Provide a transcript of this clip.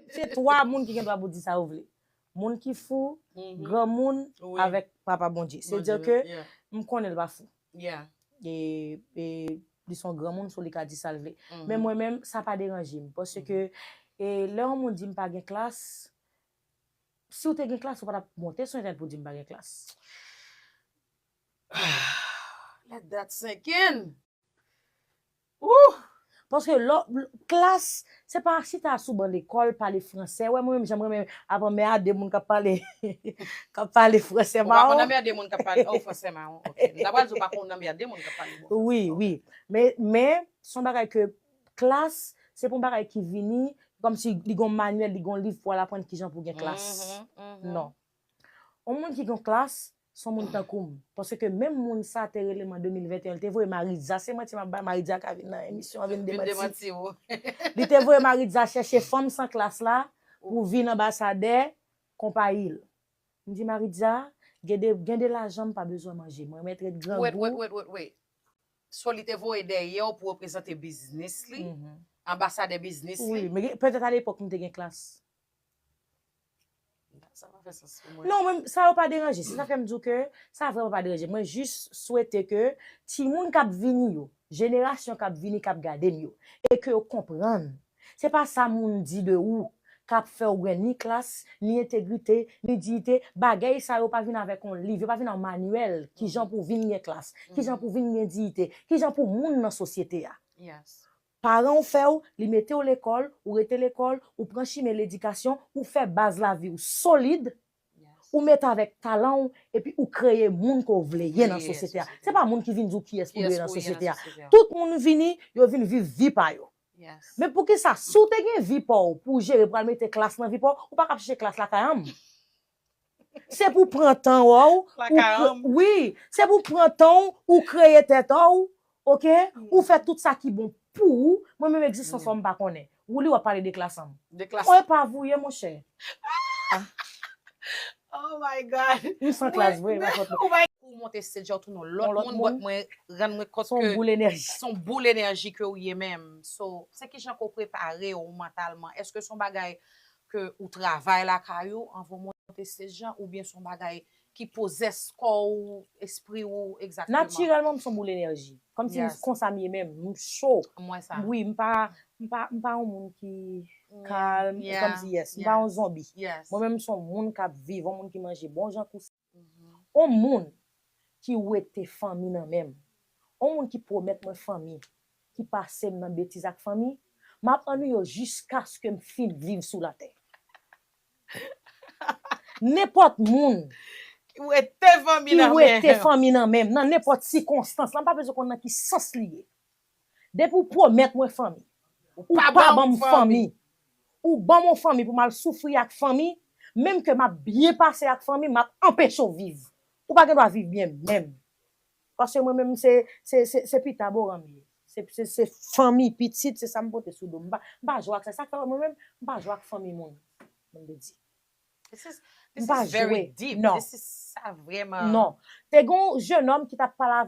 Se 3 moun ki gen dwa pou di sa yo vle. Moun ki fou, granmoun avèk papa Bondye. Se di ke m konnen l pa fou. E li son granmoun so li ka di sa l vle. Men mwen menm sa pa deranje m. Paske lè yon moun di m pa gen klas, si w te gen klas ou pa tap monte sou entènèt pou di m pa gen klas. Let that sink in! Ooh! Paske lò, klas, se pa chita sou ban lekòl pale fransè. Wè mwen menm jan m renmen ap anmèade moun k ap pale, k ap pale fransè mawon. Ou pa konn anmède moun k ap pale, oh, fransè mawon, ok. M ta pral di ou pa konn anmède moun k ap pale bon fransè. Wi, wi. Men, men, se yon bagay ke klas, se pa yon bagay ki vini, kòmsi li gen yon manyèl, li gen yon liv pou al aprann kijan pou gen klas. Non. On moun ki gon klas, son moun tankou m. Paske menm moun sa te rele m an 2021, li te voye Maritza, se manti m ap bay, Maritza ka vin nan emisyon an vin demanti w. Li te voye Maritza chèche fanm san klas la pou vin anbasadè konpayi l. M di Maritza, gen de lajan m pa bezwen manje, mwen mèt ret grangou. Wait, wait, wait, wait. So li te voye dèyè w pou reprezante biznis li, anbasadè biznis li? Wi, men petèt a lepòk m te gen klas. Sa pa fè sans pou mwen. Non men sa yo pa deranje, se sa fèm di w ke sa vrèman pa deranje m. Mwen jis swete ke timoun k ap vini yo, jenerasyon k ap vini k ap gade m yo e ke yo konprann se pa sa moun di de ou k ap fè w gen ni klas, ni entegrite, ni diyite. Bagèy sa yo pa vin avèk yon liv, yo pa vin an manyèl kijan pou w vin gen klas, kijan pou w vin gen diyite, kijan pou w moun nan sosyete a. Paran w fè w, li mete w lekòl, ou rete lekòl, ou pran chimen ledikasyon, ou fè baz lavi w solid, ou mete avèk talan w, epi ou kreye moun ke w vle ye nan sosyete a. Se pa moun ki vin di w kiyès pou dwe ye nan sosyete a. Tout moun vini, yo vin viv vi pa yo. Men poukisa, si w te gen vi pa w pou w jere pral mete klas nan vi pa w, ou pa ka ap chèche klas lakay anm. Se pou pran tan w ou wi se pou pran tan w ou kreye tèt an w ok ou fè tout sa ki bon pou ou mwen menm egzistans ou an m pa konnen wouli wap pale de klas an mwen epa vou ye monchè oh my god m san klas vre pa fòt mwen. Pou w monte stage la w tounen yon lòt moun but mwen rann mwen kont ke son boul enèji son boul enèji ke w ye menm so se kijan ke w prepare w mantalman èske son bagay ke ou travay lakay ou anvan ou monte stage lan oubyen son bagay ki pozès kò ou, espri ou egzakteman? Natirèlman m son boul enèji. Kòm si konsa m ye menm. M cho. M wè sa. Wi m pa m pa yon moun ki kalm. Kòm si yes. M pa yon zonbi. Yes. Mwen menm m son moun k ap viv, yon moun ki manje bon jan kou. On moun ki wete fanmi nan menm, on moun ki pwomèt mwen fanmi, ki pase m nan betiz ak fanmi, m ap annuiye w jiskaske m fin viv sou latè. Nenpòt moun. Ki wete fanmi nan menm. Ki wete fanmi nan menm, nan nenpòt sikonstans, la m pa bezwen konn nan ki sans li ye. Depi ou pwomèt mwen fanmi. Ou pa ban m fanmi. Ou ban m yon fanmi pou m al soufri ak fanmi, menm ke m ap byen pase ak fanmi m, m ap anpeche w viv. Ou pa gen dwa viv byen menm. Paske mwen menm se, se, se, se pita boran m ye. Se, se, se fanmi, pitit, se sa m pote sou do m. M pa, m pa jwe ak sa. Se sa k fè wè mwen menm, m pa jwe ak fanmi moun. Moun te di. This is, this is very deep. Non. This is, sa vrèman. Non. Te gen yon jenòm ki t ap pale avè m.